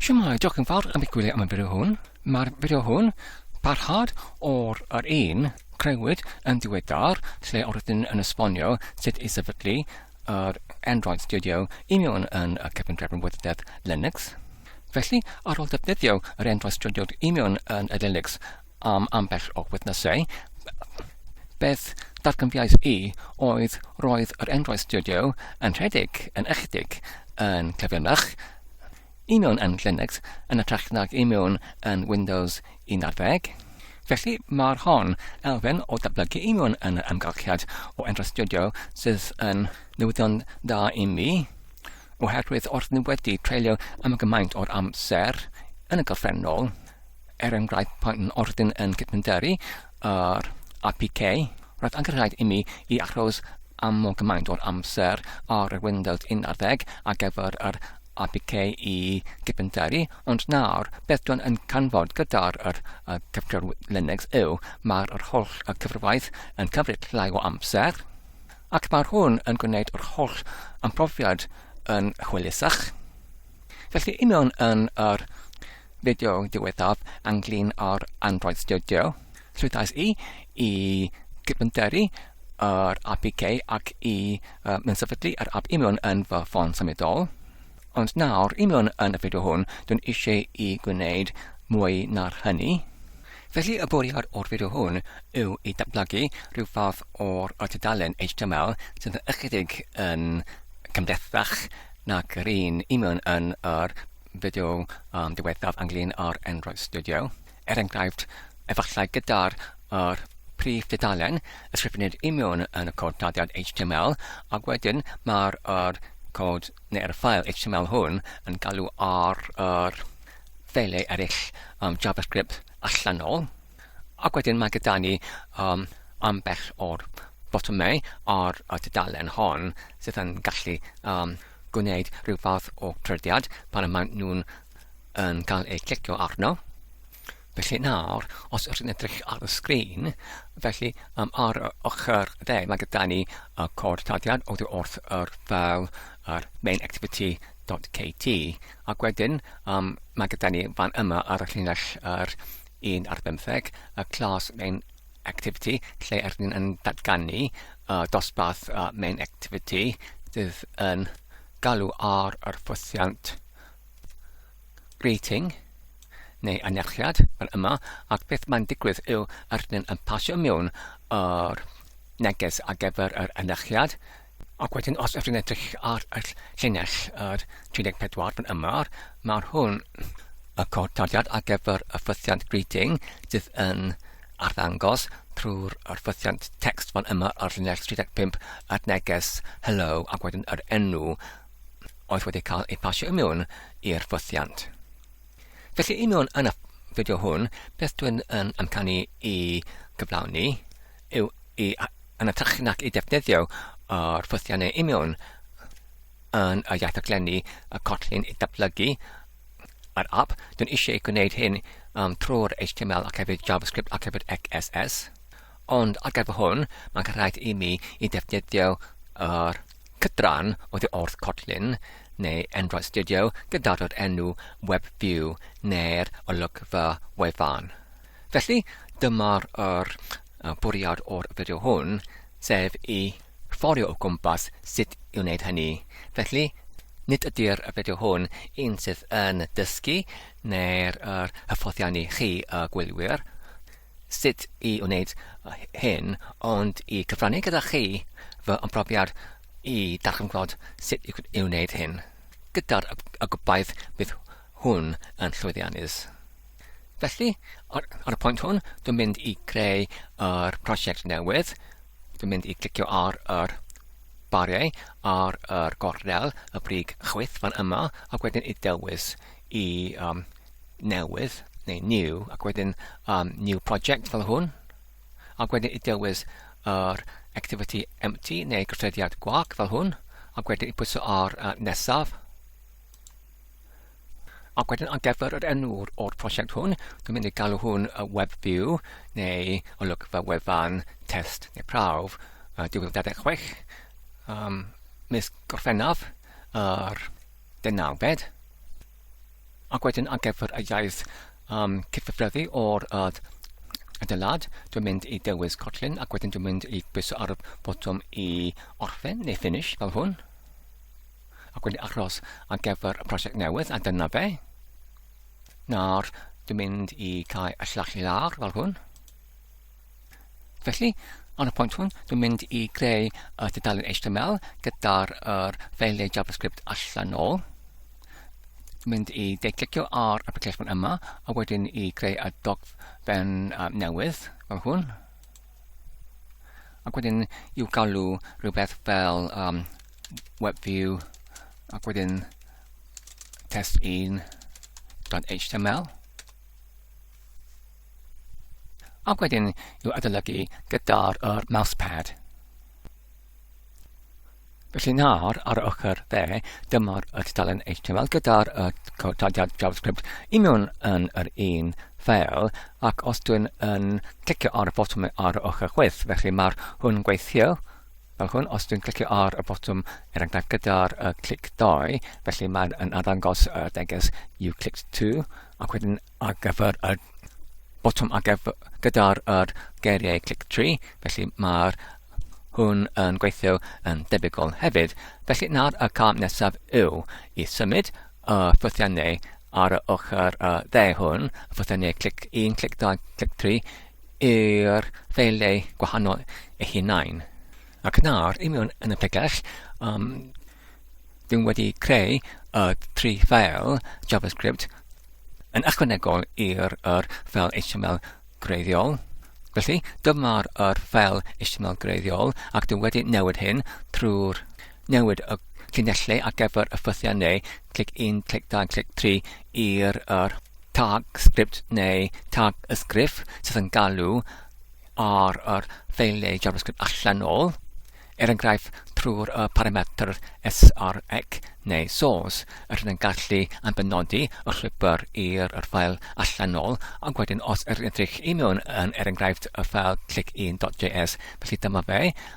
Shwmae, diolch yn fawr am ei gwylio am y fideo hwn. Mae'r fideo hwn parhad o'r yr un creuwyd yn diweddar lle o'r ydyn yn esbonio sut i sefydlu yr Android Studio i mewn yn y cefndrefn wyddeddedd Linux. Felly, ar ôl defnyddio yr Android Studio i mewn yn y Linux am ambell o witnessau, beth ddatganfiais i oedd roedd yr enghraifft studio yn rhedeg yn ychydig yn cyflymach i mewn yn Linux yn ytrach nag i mewn yn Windows 11. Felly mae'r hon elfen o datblygu i mewn yn yr amgylchiad o enghraifft studio sydd yn newyddion da i mi, oherwydd wrth ni wedi treulio am gymaint o'r amser yn y gorffennol, Er enghraifft, pan ordyn yn cydmynderu yr APK, roedd angen rhaid imi i aros am mor gymaint o'r amser ar yr Windows 11 ar gyfer yr APK i gydmynderu, ond nawr, beth dwi'n yn canfod gyda'r yr, uh, cyfrif Linux yw, mae'r yr holl y cyfrifaeth yn cymryd llai o amser, ac mae hwn yn gwneud yr holl ymprofiad yn hwylusach. Felly union yn yr fideo diwethaf ynglyn â'r Android Studio, rhedais i i gydfynteri yr APK ac i uh, mynsefydlu yr app union yn fy ffôn symudol. Ond nawr, union yn y fideo hwn, dwi'n eisiau i gwneud mwy na'r hynny. Felly y bwriad o'r fideo hwn yw i datblygu rhyw fath o'r tudalen HTML sydd yn ychydig yn cymhlethach nag yr un y mewn yn yr fideo diwethaf ynglŷn â'r Android Studio. Er enghraifft, efallai gyda'r yr prif dudalen, ysgrifennir i mewn yn y cod dyddiad HTML, ac wedyn mae'r yr cod neu'r ffael HTML hwn yn galw ar yr ffeilau eraill um, JavaScript allanol. Ac wedyn mae gyda ni um, ambell o'r botymau ar y tudalen hon sydd yn gallu um, gwneud rhyw fath o trediad pan y maen nhw'n yn cael eu clicio arno. Felly nawr, os ydych chi'n edrych ar y sgrin, felly um, ar y ochr dde mae gyda ni y cod tadiad oddi wrth yr fel yr main activity.kt ac wedyn um, mae gyda ni fan yma ar y llinell yr 1 ar bymtheg, y clas main activity, lle rydyn ni'n datganu y dosbarth main activity sydd yn galw ar yr ffosiant greeting neu anerchiad fel yma, ac beth mae'n digwydd yw rydyn yn pasio mewn yr neges ar gyfer yr anerchiad, Ac wedyn os ydych chi'n edrych ar y llinell yr 34 fan yma, mae'r hwn y cod taliad ar gyfer y ffythiant greeting sydd yn arddangos trwy'r ffythiant text fan yma ar llinell 35 at neges hello ac wedyn yr enw oedd wedi cael ei pasio i mewn i'r ffythiant. Felly i mewn yn y fideo hwn, beth dwi'n yn amcanu i gyflawni yw i aniatechu nac i ddefnyddio yr ffwythiau neu union yn y iaith rhaglenni y collin i ddatblygu yr app. Dwi'n eisiau gwneud hyn um, trwy'r HTML ac hefyd JavaScript ac hefyd XSS. Ond ar gyfer hwn, mae'n rhaid i mi i ddefnyddio yr cydran o ddi wrth collin neu Android Studio gyda'r enw WebView neu'r olygfa wefan. Felly, dyma'r yr bwriad o'r fideo hwn, sef i fforio o gwmpas sut i wneud hynny. Felly, nid ydy'r fideo hwn un sydd yn dysgu neu'r yr hyfforddiannu chi y gwylwyr sut i wneud hyn, ond i cyfrannu gyda chi fy ymprofiad i darganfod sut i wneud hyn, gyda'r y gobaith bydd hwn yn llwyddiannus. Felly, ar, ar y pwynt hwn, dwi'n mynd i greu yr prosiect newydd. Dwi'n mynd i clicio ar yr bariau ar yr gornel y brig chwyth fan yma ac wedyn i dewis i um, newydd neu new ac wedyn um, new project fel hwn ac wedyn i dewis yr activity empty neu gyffrediad gwag fel hwn ac wedyn i pwyso ar uh, nesaf Ac wedyn ar gyfer yr enw o'r prosiect hwn, dwi'n mynd i galw hwn y Web View neu olygfa wefan test neu prawf uh, 2026 um, mis Gorffennaf yr dynawfed. Ac wedyn ar gyfer y iaith um, cyffreddu o'r uh, adeilad, dwi'n mynd i dewis Kotlin ac wedyn dwi'n mynd i bwyso ar y botwm i orffen neu finish fel hwn. Ac wedi aros ar gyfer y prosiect newydd, a dyna fe. Nawr, dwi'n mynd i cael y llach i lawr fel hwn. Felly, ar y pwynt hwn, dwi'n mynd i greu y tudalen HTML gyda'r er ffeiliau JavaScript allan ôl. Dwi'n mynd i deiclicio ar y piclesbon yma, a wedyn i greu y dogfen um, newydd fel hwn. Ac wedyn i'w galw rhywbeth fel um, web view ac wedyn test1.html ac wedyn i'w adolygu gyda'r er mousepad. Felly nawr, ar y ochr dde, dyma'r y tudalen HTML gyda'r y codiad JavaScript i mewn yn yr un ffeil, ac os dwi'n yn clicio ar y botwm ar y ochr chwith, felly mae'r hwn gweithio, Fel hwn, os dwi'n clicio ar y botwm, er enghraifft gyda'r uh, clic 2, felly mae'n yn arddangos y uh, deges you clicked to, ac wedyn ar gyfer y botwm ar gyfer gyda'r er geiriau clic 3, felly mae'r hwn yn gweithio yn debygol hefyd. Felly nawr y cam nesaf yw i symud y ffythiannau ar y ochr y dde hwn, y ffythiannau clic 1, clic 2, clic 3, i'r ffeiliau gwahanol eu hunain. Ac nawr, i mewn yn y pregell, um, dwi'n wedi creu y tri ffeil JavaScript yn ychwanegol i'r er ffeil HTML greiddiol. Felly, dyma'r er ffeil HTML greiddiol, ac dwi wedi newid hyn trwy'r Newid y llinellau ar gyfer y ffythiau neu clic 1, clic 2, clic 3 i'r yr tag sgript neu tag y sgriff sydd yn galw ar yr ffeiliau JavaScript allanol, er enghraifft trwy'r y parametr src neu source, yr hyn yn gallu anfynodi y llwybr i'r yr ffael allanol, ac wedyn os yr edrych i mewn yn er enghraifft y ffael clic1.js, felly dyma fe,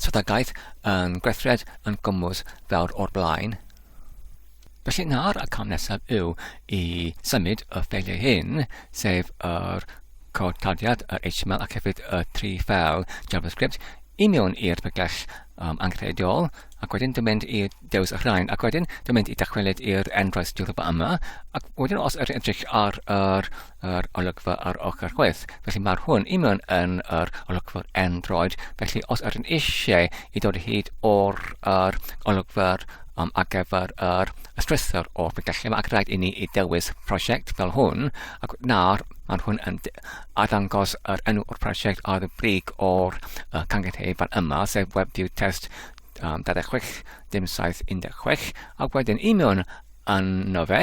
Strategaeth yn gweithred yn gwmws fawr o'r blaen. Felly nawr y cam nesaf yw i symud y ffeiliau hyn, sef yr cod clawdiad, yr HTML ac hefyd y tri ffeil JavaScript i mewn i'r bygell um, angenrheidiol, ac wedyn dwi'n mynd i dewis y rhain, ac wedyn dwi'n mynd i dychwelyd i'r enghraifft diwrnod yma, ac wedyn os ydych chi'n edrych ar yr yr olygfa ar ochr chwith. Felly mae'r hwn i mewn yn yr olygfa'r Android. Felly os ydyn eisiau i dod hyd o'r yr olygfa'r um, ar gyfer yr ystrythur o ffigyllu, mae rhaid i ni i dewis prosiect fel hwn, ac nawr mae'n hwn yn arddangos yr enw o'r prosiect ar y brig o'r uh, cangythe fan yma, sef WebView Test um, 26, dim 716, ac wedyn i mewn yn fe,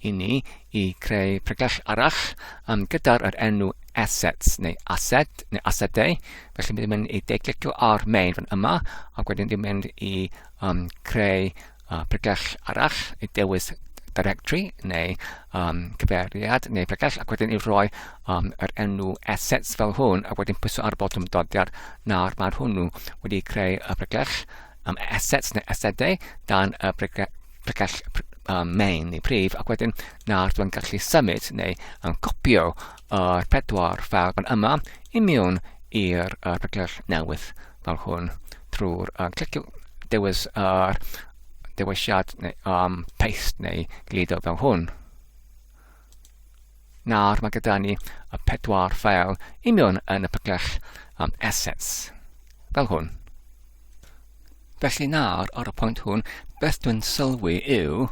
i ni i creu pregell arall um, gyda'r er enw assets neu asset neu assetau. Felly ni'n mynd i deiclicio ar main fan yma ac wedyn ni'n mynd i um, creu uh, pregell arall i dewis directory neu um, cyfeiriad neu pregell ac wedyn i roi um, yr er enw assets fel hwn ac wedyn pwyso ar y botwm dodiad nawr mae'r hwnnw wedi creu y pregell um, assets neu asedau dan y pregell um, main neu prif ac wedyn nawr dwi'n gallu symud neu um, copio yr pedwar fel fan yma i mewn i'r uh, pregell newydd fel hwn trwy'r uh, clicio dewis yr uh, dewisiad neu um, paste neu glido fel hwn. Nawr mae gyda ni y pedwar ffeil union yn y pygell am assets, fel hwn. Felly nawr, ar y pwynt hwn, beth dwi'n sylwi yw,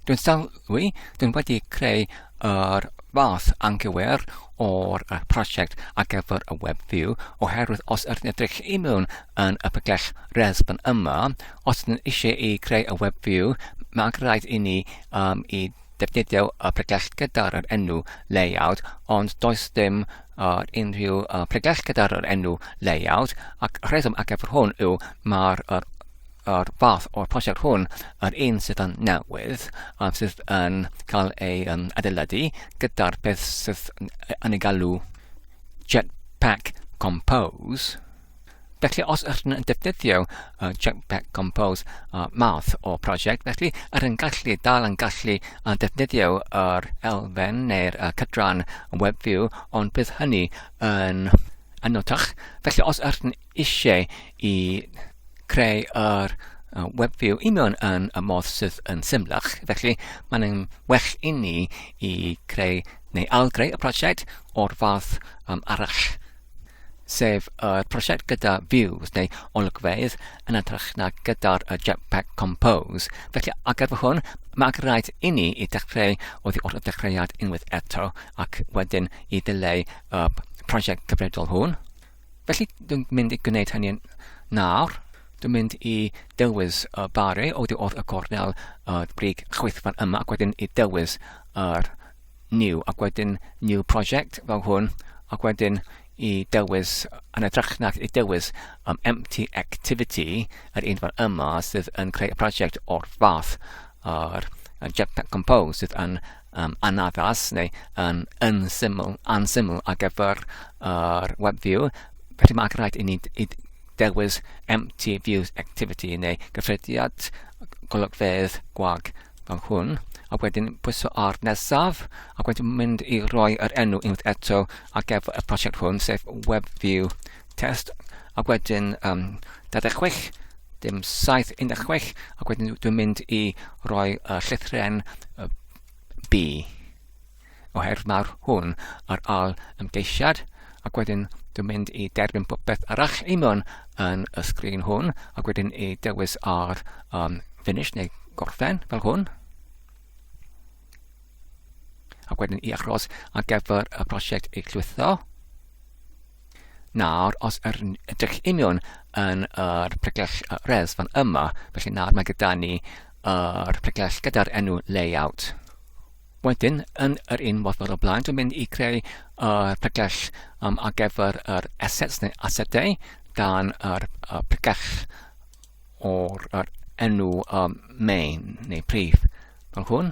dwi'n sylwi, dwi'n wedi creu yr fath anghywir o'r prosiect ar gyfer y web view, oherwydd os ydyn edrych i mewn yn y pygell resbon yma, os ydyn eisiau i creu y web view, mae'n rhaid i ni um, i Defnyddiau y pregeth gyda'r yr enw layout ond does dim yr unrhyw y pregeth gyda'r yr enw layout ac rheswm ar gyfer hwn yw mae'r yr, yr fath o'r prosiect hwn yr un sydd yn newydd um, sydd yn cael ei um, adeiladu gyda'r peth sydd yn ei galw Jetpack Compose Felly os ydych yn defnyddio uh, Jetpack Compose uh, math o prosiect, felly yr yn gallu dal yn gallu uh, defnyddio yr elfen neu'r uh, cydran WebView, ond bydd hynny yn anotach. Felly os ydych yn eisiau i creu yr uh, WebView i mewn yn y modd sydd yn symlach, felly mae'n well i ni i creu neu algreu y prosiect o'r fath um, arall. sef y prosiect gyda Views neu olygfeydd yn edrych na gyda'r Jetpack Compose. Felly, ar gyfer hwn, mae ac rhaid i ni i dechrau o ddi o'r dechreuad unwaith eto ac wedyn i ddileu y prosiect cyfredol hwn. Felly, dwi'n mynd i gwneud hynny nawr. Dwi'n mynd i dewis y bari o ddi o'r y gornel y brig chwythfan yma ac wedyn i dewis yr new ac wedyn new project fel hwn ac wedyn i dewis yn edrych nac i dewis um, empty activity yr un fan yma sydd yn creu y prosiect o'r fath a'r Jetpack Compose sydd yn um, anaddas neu yn unsyml, ansyml ar gyfer yr uh, web view felly mae'n rhaid i ni i dewis empty views activity neu gyffrediad golygfeydd gwag fel hwn, a wedyn pwyso ar nesaf, ac wedyn mynd i roi yr enw unwaith eto ar gyfer y prosiect hwn, sef Web View Test, a wedyn um, 26, dim 7, 16, ac wedyn dwi'n mynd i roi y llythren B. o her mawr hwn ar ol ymgeisiad ac wedyn dwi'n mynd i derbyn popeth arall i mewn yn y sgrin hwn ac wedyn i dewis ar um, finish neu gorffen fel hwn ac wedyn i achos ar gyfer y prosiect ei llwytho. Nawr, os yr ydych i mewn yn yr pregell res fan yma, felly nawr mae gyda ni yr pregell gyda'r enw layout. Wedyn, yn yr un modd fel y blaen, dwi'n mynd i creu uh, pregell um, ar gyfer yr assets neu asedau dan yr uh, pregell o'r er enw um, main neu prif. Fel hwn,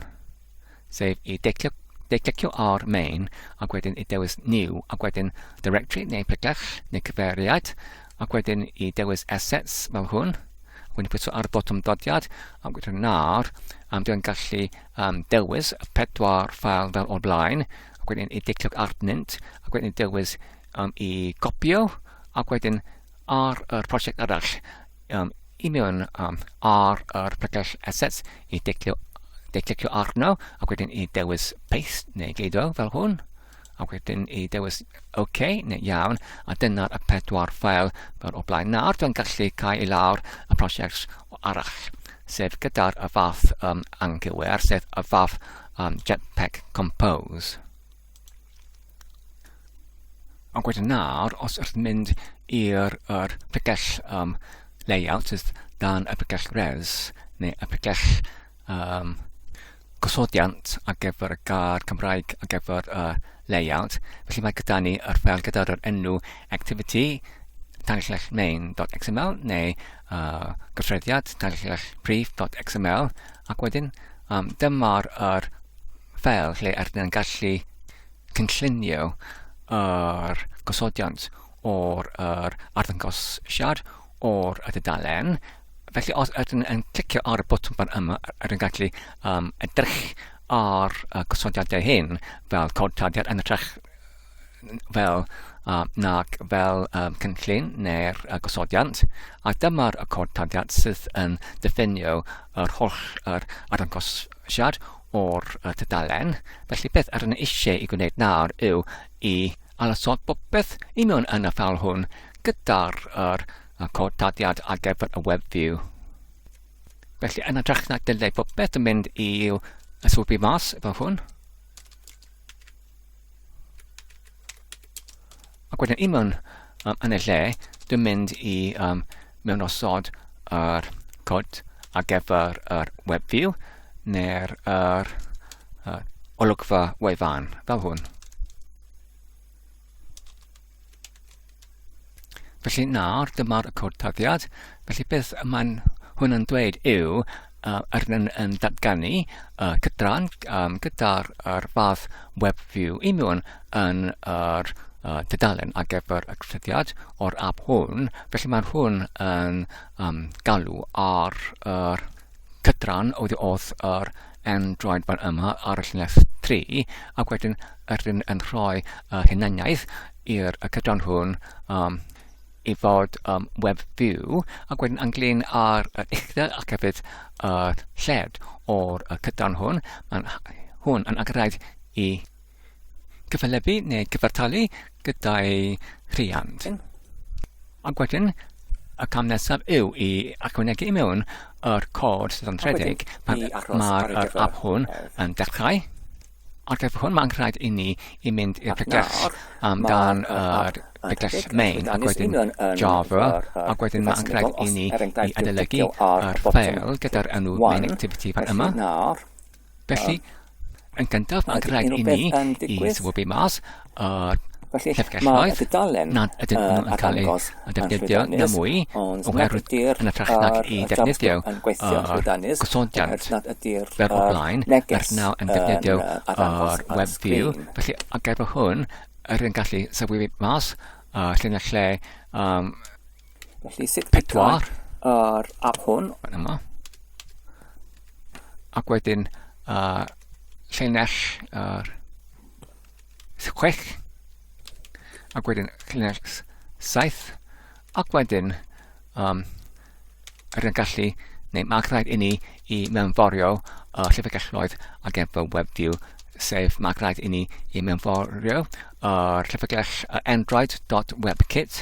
sef i deiclio, deiclicio ar main ac wedyn i dewis new ac wedyn directory neu pregell neu cyfeiriad ac wedyn i dewis assets fel hwn. Wedyn pwyso ar y botwm dodiad ac wedyn nawr am dwi'n gallu am dewis pedwar ffael fel o'r blaen, ac wedyn i diclioc arnynt, ac wedyn i dewis um, i gopio, ac wedyn ar yr prosiect arall, um, i mewn um, ar yr pregell assets, i diclio, diclio arno, ac wedyn i dewis paste neu geido fel hwn, a wedyn i dewis OK, neu iawn, a dyna'r y pedwar ffel fel o blaen. Nawr dwi'n gallu cael i lawr y prosiect arall, sef gyda'r y fath um, anghywir, sef y fath um, Jetpack Compose. A wedyn nawr, os ydych mynd i'r er pregell um, layout, sydd dan y pregell res, neu y pregell um, gosodiant ar gyfer y gair Cymraeg ar gyfer y uh, layout. Felly mae gyda ni yr ffel gyda'r enw activity tanllech main.xml neu uh, gyffreddiad tanllech brief.xml ac wedyn um, dyma'r er ffel lle er ni'n gallu cynllunio yr er gosodiant o'r er arddangosiad o'r y dudalen Felly os ydyn yn clicio ar y botwm fan yma, yr yn gallu um, edrych ar y gosodiadau hyn fel codtadiad yn ytrach fel uh, nag fel um, cynllun neu'r uh, gosodiant. A dyma'r y codtadiad sydd yn diffinio yr holl yr arangosiad o'r uh, tydalen. Felly beth yr yn eisiau i gwneud nawr yw i alasod popeth i mewn yn y ffal hwn gyda'r uh, a cod daliad ar gyfer y web view. Felly yn ytrach na dylai popeth yn mynd i'w yswybu mas efo hwn. Ac wedyn i mewn um, yn y lle, dwi'n mynd i um, mewn osod yr cod ar gyfer yr web view neu'r er, er, olygfa wefan, fel hwn. Felly nawr, dyma'r cod taddiad. Felly beth mae'n hwn yn dweud yw uh, ar yn, yn datganu uh, cydran um, gyda'r er fath web view i mewn yn yr uh, dydalen ar gyfer y cysylltiad o'r app hwn. Felly mae hwn yn um, galw ar yr er Cytran oedd oedd yr Android fan yma ar y llinell 3 ac wedyn rydyn yn rhoi uh, hunaniaeth i'r y cytran hwn um, i fod um, web view ac wedyn ynglyn â'r uh, uchder ac hefyd uh, lled o'r uh, cytran hwn. Mae'n hwn yn agorad i cyfelybu neu gyfartalu gyda'i rhiant. Ac wedyn, y cam nesaf yw i ychwanegu i mewn yr cod sydd yn rhedeg pan mae'r app hwn yn dechrau. Ar gyfer hwn, mae'n rhaid i ni i mynd i'r pregell am dan yr pregell main ac wedyn Java ac wedyn mae'n rhaid i ni i adolygu yr ffeil gyda'r enw main activity fan yma. Felly, yn gyntaf, mae'n rhaid i ni i swybu mas o'r llyfrgelloedd nad ydyn nhw'n yn cael eu defnyddio na mwy oherwydd yn y ffach nag i defnyddio gosodiant fer o blaen er naw yn defnyddio o'r web view. Felly, ar gyfer hwn, yr yn gallu sylwi mas lle na lle um, Felly sut pedwar yr app hwn. Fan yma. Ac wedyn uh, llinell yr uh, chwech. Ac wedyn llinell saith. Ac wedyn um, yr yn gallu, neu mae'n rhaid i ni i mewnforio uh, llyfrgelloedd ac efo WebView sef mae'n rhaid i ni i mewnforio uh, llyfrgell uh, android.webkit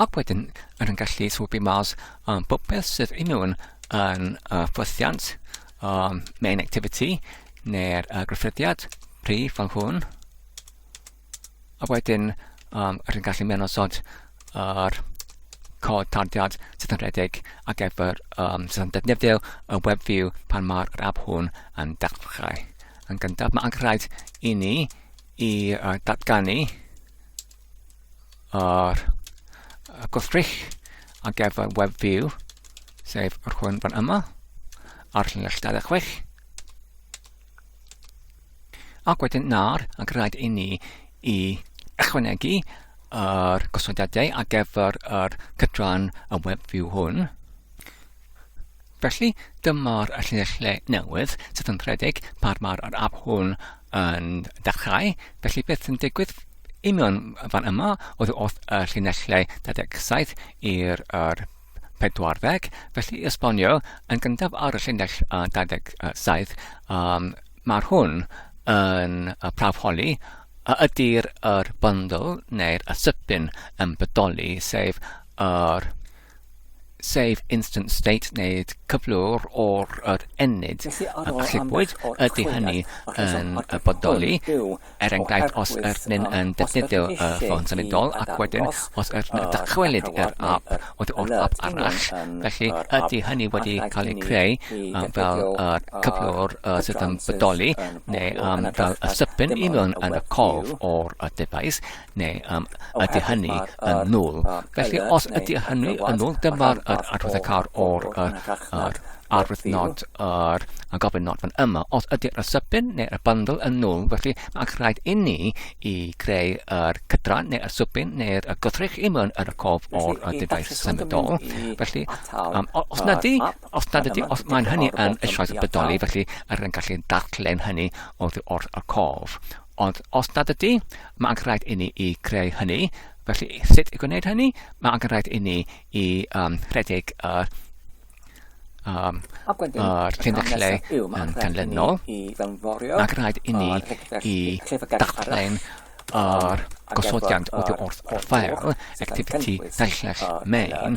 Ac wedyn, yn yn gallu swbio mas um, popeth sydd yn nhw'n yn uh, ffwythiant, um, main activity, neu'r uh, gryffydiad, prif fan hwn. A wedyn, um, rwy'n gallu mewn osod yr er, cod tardiad sydd yn rhedeg ac efo'r um, sydd yn defnyddio y web view pan mae'r app hwn yn dechrau. Yn gyntaf, mae angen rhaid i ni i uh, datganu ar y gwrthrych ar gyfer web view, sef yr hwn fan yma, ar llinell 26. Ac wedyn nawr, ac rhaid i ni i ychwanegu yr gosodiadau ar gyfer yr cydran y web view hwn. Felly, dyma'r llinellau newydd sydd yn rhedeg pan mae'r app hwn yn dechrau. Felly, beth sy'n digwydd union fan yma oedd wrth y llinellau 27 i'r 40. Felly, i esbonio, yn gyntaf ar y llinell 27, um, mae'r hwn yn y prawf holi a ydy'r er bundle neu'r asybyn yn bodoli, sef yr er sef instant state neu cyflwr o'r yr ennyd a allipwyd ydy hynny yn y bodoli er enghraifft os ydyn yn defnyddio y ffôn symudol ac wedyn os ydyn yn dychwelyd i'r app oedd o'r app arall felly ydy hynny wedi cael ei creu um, fel y cyflwr uh, sydd yn bodoli neu um, fel y sypyn i mewn yn y cof o'r device neu um, ydy hynny yn nôl. Felly, os ydy hynny yn nôl, dyma'r adrodd y car o'r arwydd nod yr a gofyn nod fan yma. Os ydy'r asybyn neu y bundle yn nôl, felly mae'n rhaid i ni i greu yr cydran neu asybyn neu'r gwrthrych i mewn yr cof o'r dyfais symudol. Felly, um, os na di, os na di, os mae'n hynny yn eisoes y bydoli, felly yr yn gallu darllen hynny oddi wrth y cof. Ond os nad ydy, Mae angen rhaid i ni i creu hynny. Felly, sut i gwneud hynny? Mae angen rhaid i ni i um, rhedeg yr um, Ac wedyn, yr hyn y lle yn ganlynol. Mae'n rhaid i ni i dachlau'n yr gosodiant o dy wrth offer activity daillell main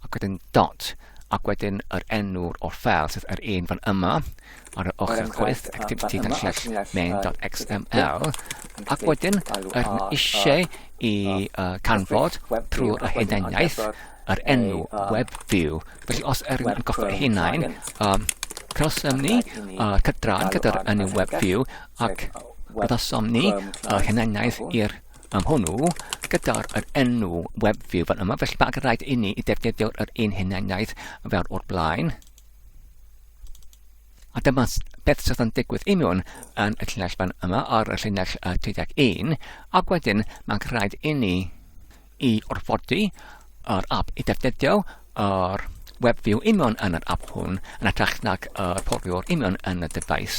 ac wedyn dot, ac wedyn yr enw'r o'r ffeil, sef yr un fan yma, ar yr ochr chwith, activity dan llell main.xml, ac wedyn yr eisiau i uh, canfod trwy y hunaniaeth yr enw web view. Felly os yr yn goffa ei hunain, um, cawsom ni uh, cydrad gyda'r enw web view ac gydawsom ni uh, hunaniaeth i'r am hwnnw, gyda'r yr enw web view fan yma, felly mae'n rhaid i ni i defnyddio'r yr un hunaniaeth fel o'r blaen. A dyma beth sydd yn digwydd i mewn yn y llinell fan yma ar y llinell 31, ac wedyn mae'n rhaid i ni i orfodi yr app i defnyddio yr web view union yn yr app hwn yn atrach nag y porfiwr union yn y dyfais.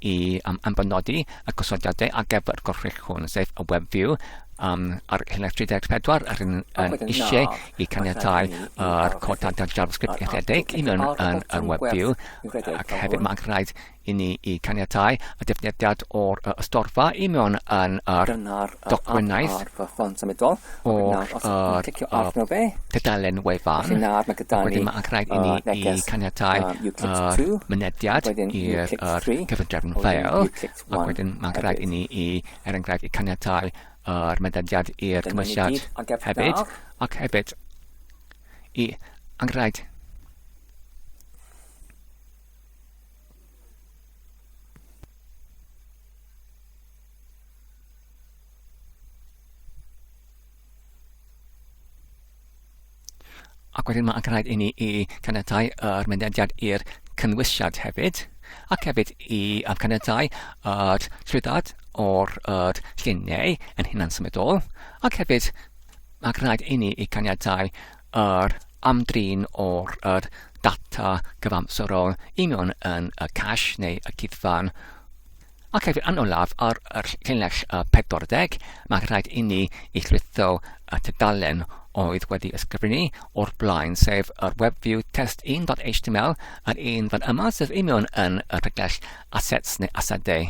i um, ambanodi y gosodiadau ar gyfer y gorchwyll hwn, sef y web view, um, ar Helix 3.4 yr yn, yn eisiau i caniatau yr codadau JavaScript eithedig i mewn yn yr web view ac hefyd mae'n rhaid i ni i caniatau y defnyddiad o'r y storfa i mewn yn yr dogfennaeth o'r dudalen wefan. Wedyn mae angen rhaid i ni i caniatau mynediad i'r cyfundrefn ffeil. Ac wedyn mae angen rhaid i ni i, er enghraifft, i caniatau yr mynediad i'r cymwysiad hefyd. Ac hefyd, i angen rhaid Ac wedyn mae'n rhaid i ni i caniatau yr mynediad i'r cynwysiad hefyd, ac hefyd i caniatau yr trwyddad o'r yr lluniau yn hunan symudol, ac hefyd mae'n rhaid i ni i caniatau yr amdrin o'r yr data gyfamserol i mewn yn y cash neu y cydfan Ac hefyd, yn olaf, ar yr llinell 40, mae'n rhaid i ni i chritho y tudalen oedd wedi ysgrifennu o'r blaen, sef yr WebView test 1.html, yr un fan yma, sef union yn y rhagell assets neu asedau.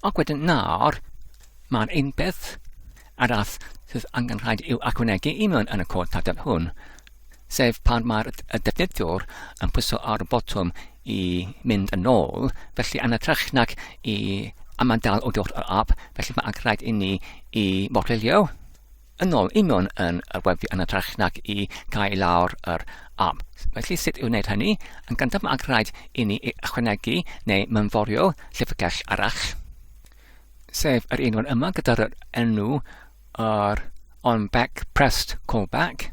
Ac wedyn nawr, mae'n ein beth arall sydd angen rhaid i'w achwanegu union yn y cod tadl hwn. sef pan mae'r defnyddiwr yn pwyso ar y botwm i mynd yn ôl, felly yn ytrach nag i amadael o dod yr app, felly mae'n rhaid i ni i morelio yn ôl i mewn yn y weffi yn ytrach nag i gael lawr yr app. Felly sut i'w wneud hynny? Yn gyntaf mae'n rhaid i ni ychwanegu neu mynforio llyfrgell arall, sef yr un yma gyda'r enw yr on back pressed callback,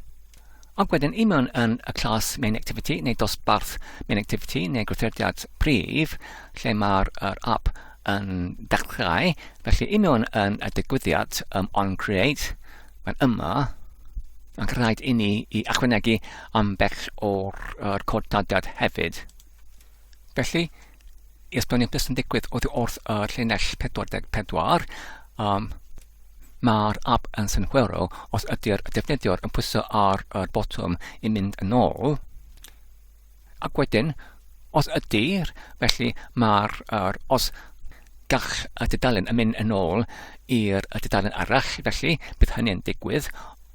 ac wedyn i mewn yn y clas main activity neu dosbarth main activity neu gwrthodiad prif lle mae'r er app yn dechrau. Felly i mewn yn y digwyddiad um, on create, mae'n yma, mae'n rhaid i ni i achwanegu am bell o'r er cod dadiad hefyd. Felly, i esbonio beth sy'n digwydd oddi wrth y llinell 44, um, mae'r app yn synhwyro os ydy'r defnyddiwr yn pwyso ar y botwm i mynd yn ôl. Ac wedyn, os ydy'r, felly mae'r, er, os gall y dudalen yn mynd yn ôl i'r dudalen arall, felly bydd hynny'n digwydd,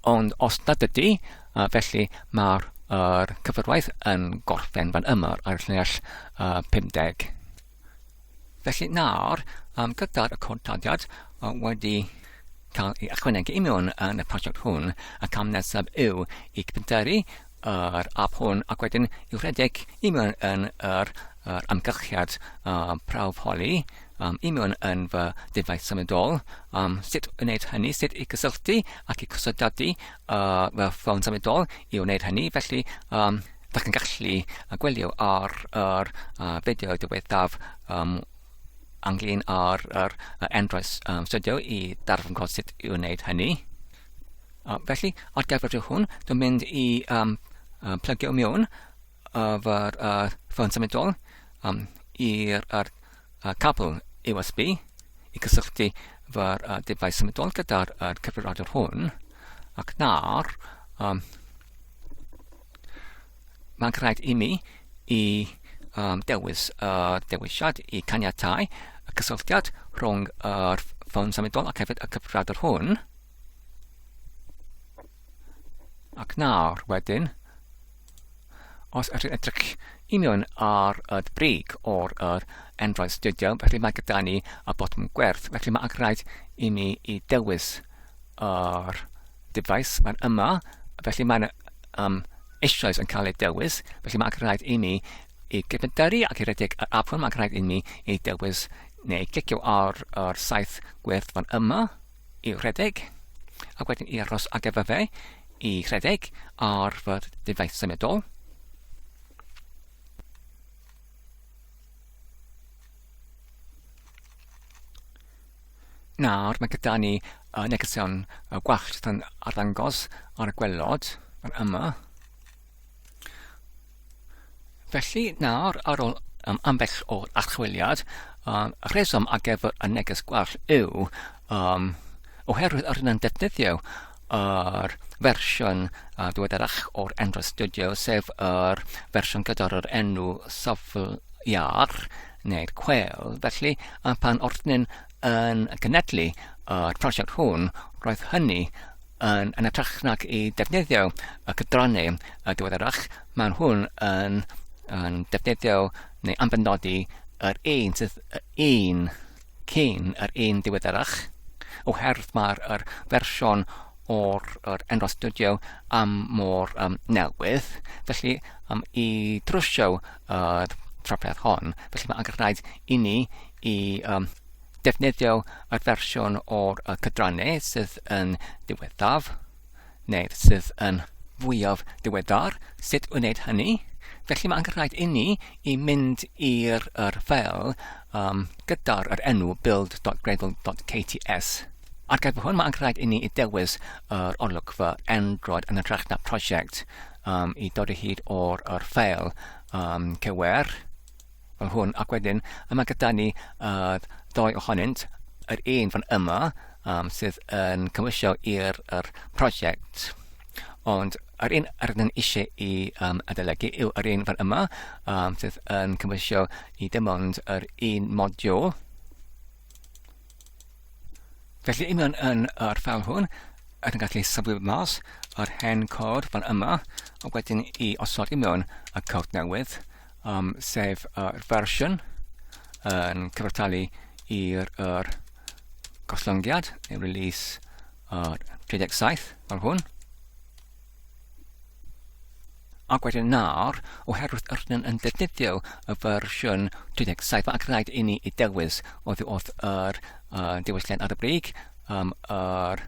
ond os nad ydy, A felly mae'r er, cyfrwaith yn gorffen fan yma ar llinell uh, 50. Felly nawr, um, gyda'r y codladiad uh, wedi cael ei ychwanegu i mewn yn y prosiect hwn, y cam nesaf yw i gyfnderu yr app hwn ac wedyn i'w rhedeg i mewn yn yr, yr amgylchiad uh, prawf holi um, i mewn yn fy defaid symudol, um, sut wneud hynny, sut i gysylltu ac i cysodadu uh, fel ffôn symudol i wneud hynny, felly um, ydych chi'n gallu gwylio ar yr uh, fideo diwethaf um, anglyn ar yr uh, Android um, Studio i darfod gweld sut i wneud hynny. Uh, felly, ar gyfer rhyw hwn, dwi'n mynd i um, uh, plygio mewn arfer ar ffôn symudol um, i'r ar, ar cabl USB i gysylltu fawr ar defaid symudol gyda'r ar cyfrifiadur hwn ac nawr um, mae'n rhaid i mi i um, dewis y uh, dewisiad i caniatau y cysylltiad rhwng yr ffôn symudol ac hefyd y cyfrifiadur hwn ac nawr wedyn Os ydych yn edrych i mewn ar y brig o'r yr Android Studio, felly mae gyda ni y botwm gwerth, felly mae angen i mi i dewis yr device, mae'n yma, felly mae'n um, eisoes yn cael ei dewis, felly mae'n rhaid i mi i gyfndaru ac i redeg yr apwn, mae'n rhaid i mi i dewis neu clicio ar yr saith gwerth fan yma, i rhedeg, a wedyn i aros ar gyfer fe i rhedeg ar fy defaith symudol. Nawr mae gyda ni y negeseuon gwallt sy'n arddangos ar y gwelod yma. Felly, nawr, ar ôl um, ambell o archwiliad, um, rheswm ar gyfer y neges gwell yw um, oherwydd yr yn defnyddio yr fersiwn uh, diweddarach o'r Android Studio, sef yr fersiwn gyda'r yr enw safl iar neu'r cwel. Felly, uh, pan ordnyn yn gynedlu y uh, prosiect hwn, roedd hynny Yn hytrach nag i ddefnyddio y cydrannau diweddarach, mae nhw'n yn, yn defnyddio neu ambenodi yr un sydd un cyn yr un diweddarach, oherwydd mae'r er fersiwn o'r er enwau studio am mor um, newydd, felly um, i drwsio yr uh, trafferth hon, felly mae'n rhaid i ni i um, defnyddio y fersiwn o'r cydrannau sydd yn ddiweddaf, neu sydd yn fwyaf diweddar, sut wneud hynny. Felly mae angen rhaid inni i mynd i'r er ffeil um, gyda'r er enw build.gradle.kts. Ar gyfer hwn, mae angen rhaid inni i dewis yr olygfa Android yn y na prosiect um, i dod o hyd o'r er ffeil um, cywer. fel hwn ac wedyn yma gyda ni uh, ddoe ohonynt yr un fan yma um, sydd yn cymwysio i'r er prosiect ond yr un yr ydyn eisiau i um, adolygu yw yr un fan yma um, sydd yn cymwysio i dim ond yr un modiwl Felly, i mewn yn yr ffeil hwn, rydyn gallu saflu mas yr hen cod fan yma, a wedyn i osod i mewn y cod newydd, um, sef y fersiwn yn cyfartalu i'r er, goslongiad, neu release uh, 37, fel hwn. Ac wedyn nawr, oherwydd rydyn yn defnyddio y fersiwn 37 ac rhaid i ni i dewis oddi wrth yr uh, diwylliant ar y brig, um, yr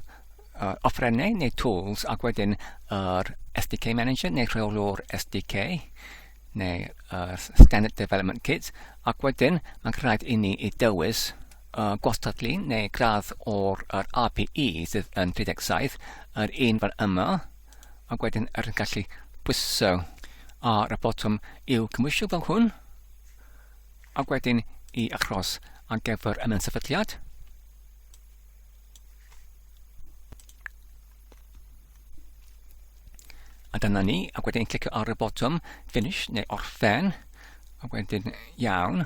uh, offrennau neu tools ac wedyn yr SDK Manager neu rheolwr SDK neu uh, Standard Development Kit ac wedyn mae'n rhaid i ni i dewis uh, gwastadlu neu gradd o'r yr API sydd yn 37, yr un fan yma, ac wedyn yr yn gallu pwyso ar y botwm i'w cymwysio fel hwn, ac wedyn i achros ar gyfer y sefydliad. A dyna ni, ac wedyn clicio ar y botwm finish neu orffen, ac wedyn iawn,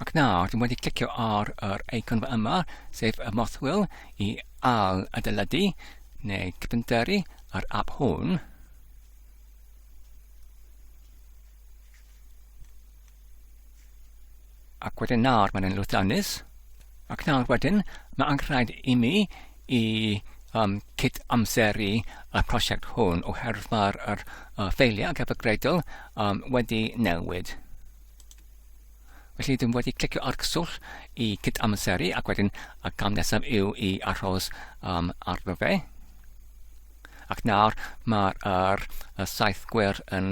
Ac nawr, dwi'n wedi clicio ar yr eicon yma, sef y mothwyl, i al adeiladu neu cyfynteru yr app hwn. Ac wedyn nawr mae'n lwyddiannus. Ac nawr wedyn, mae anghraid i mi i um, cyd amseru y prosiect hwn oherwydd mae'r er, uh, ffeiliau cyfagreidol um, wedi newid. Felly dwi'n wedi clicio ar cyswllt i cyd-amseru ac wedyn y gam nesaf yw i arhos um, arno fe. Ac nawr mae'r er, y saith gwer yn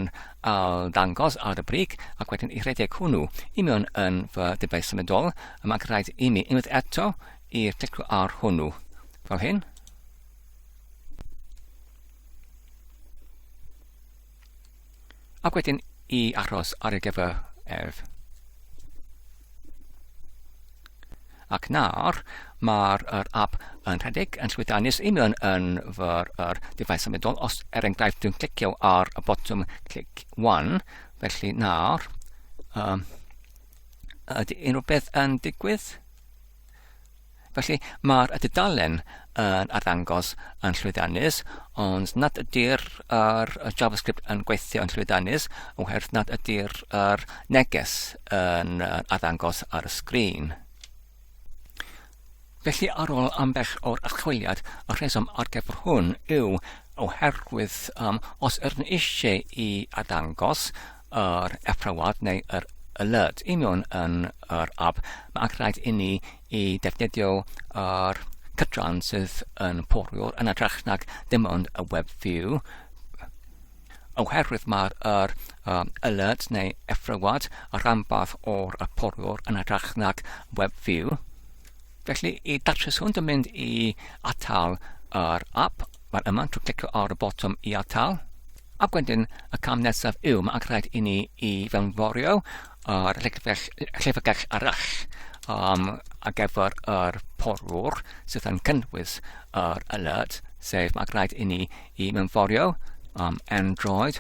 al dangos ar y brig ac wedyn i rhedeg hwnnw i mewn yn fy debau symudol y mae'n rhaid i mi unwaith eto i'r clicio ar hwnnw fel hyn. Ac wedyn i achos ar ei gyfer erf. Ac nawr, mae'r er app yn rhedeg yn llwyddiannus union yn fyr yr dyfais symudol. Os er enghraifft dwi'n clicio ar y botwm clic 1, felly nawr, um, ydy unrhyw beth yn digwydd? Felly, mae'r y dudalen yn arddangos yn llwyddiannus, ond nad ydy'r yr JavaScript yn gweithio yn llwyddiannus oherwydd nad ydy'r yr neges yn arddangos ar y sgrin. Felly ar ôl ambell o'r archwiliad, y rheswm ar gyfer hwn yw oherwydd um, os ydyn eisiau i arddangos yr athrawad neu yr aelod i mewn yn yr app, mae angen rhaid inni i ddefnyddio yr cydran sydd yn poriwr yn adrach nag dim ond y web view, oherwydd mae'r yr, um, aelod neu athrawad y rhanbarth o'r y poriwr yn adrach nag web view. Felly, i datrys hwn, dwi'n mynd i atal yr app. Mae'n yma, dwi'n clicio ar y botwm i atal. Ac wedyn y cam nesaf yw, mae'n rhaid i ni i fewnforio ar llyfrgell arall um, ar gyfer yr porwr sydd yn cynnwys yr alert, sef mae'n rhaid i ni i mewnforio um, android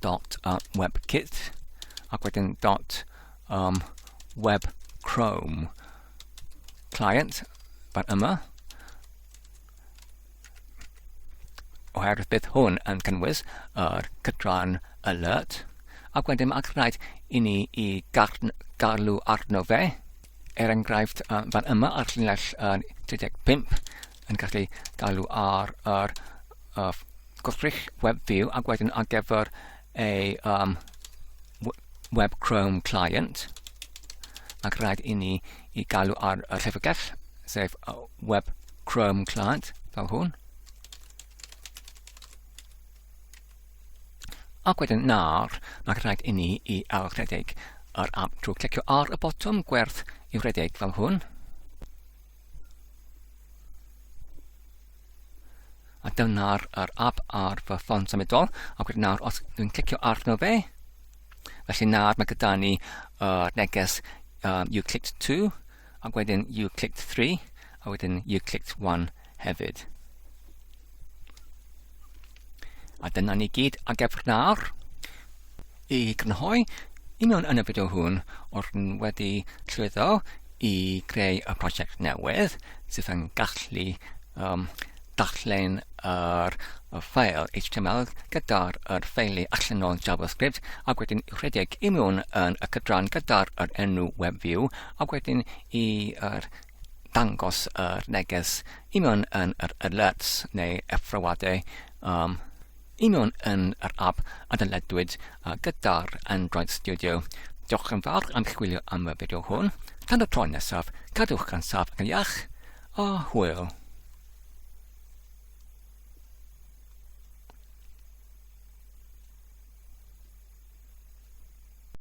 dot uh, webkit ac wedyn dot um, web chrome client fan yma oherwydd bydd hwn yn cynnwys yr cydran alert ac wedyn mae'n rhaid i ni i garlu arno fe er enghraifft um, fan yma ar llinell uh, 35 yn gallu galw ar yr uh, gwrthrych web view ac wedyn ar gyfer a um, web Chrome client ac rhaid i ni i galw ar y llyfrgell, sef web Chrome client fel hwn. Ac wedyn nawr, mae rhaid i ni i ailrhedeg yr app drwy clicio ar y botwm gwerth i'w redeg fel hwn. A dyna'r yr app ar fy ffôn symudol. A gwyd nawr, os dwi'n clicio arno fe, felly nawr mae gyda ni uh, neges um, you clicked 2, a wedyn you clicked 3, a wedyn you clicked 1 hefyd. A dyna ni gyd a gefr nawr i grynhoi union yn y fideo hwn o'r wedi llwyddo i greu y prosiect newydd sydd yn gallu um, darllen yr y ffael HTML gyda'r yr ffeili allanol JavaScript ac wedyn i'w rhedeg i mewn yn y cydran gyda'r yr enw WebView ac wedyn i'r dangos yr neges i mewn yn yr alerts neu effroadau um, i mewn yn yr app a dyledwyd uh, gyda'r Android Studio. Diolch yn fawr am chwilio am y fideo hwn. Tan y tro nesaf, cadwch gan saf yn iach a hwyl.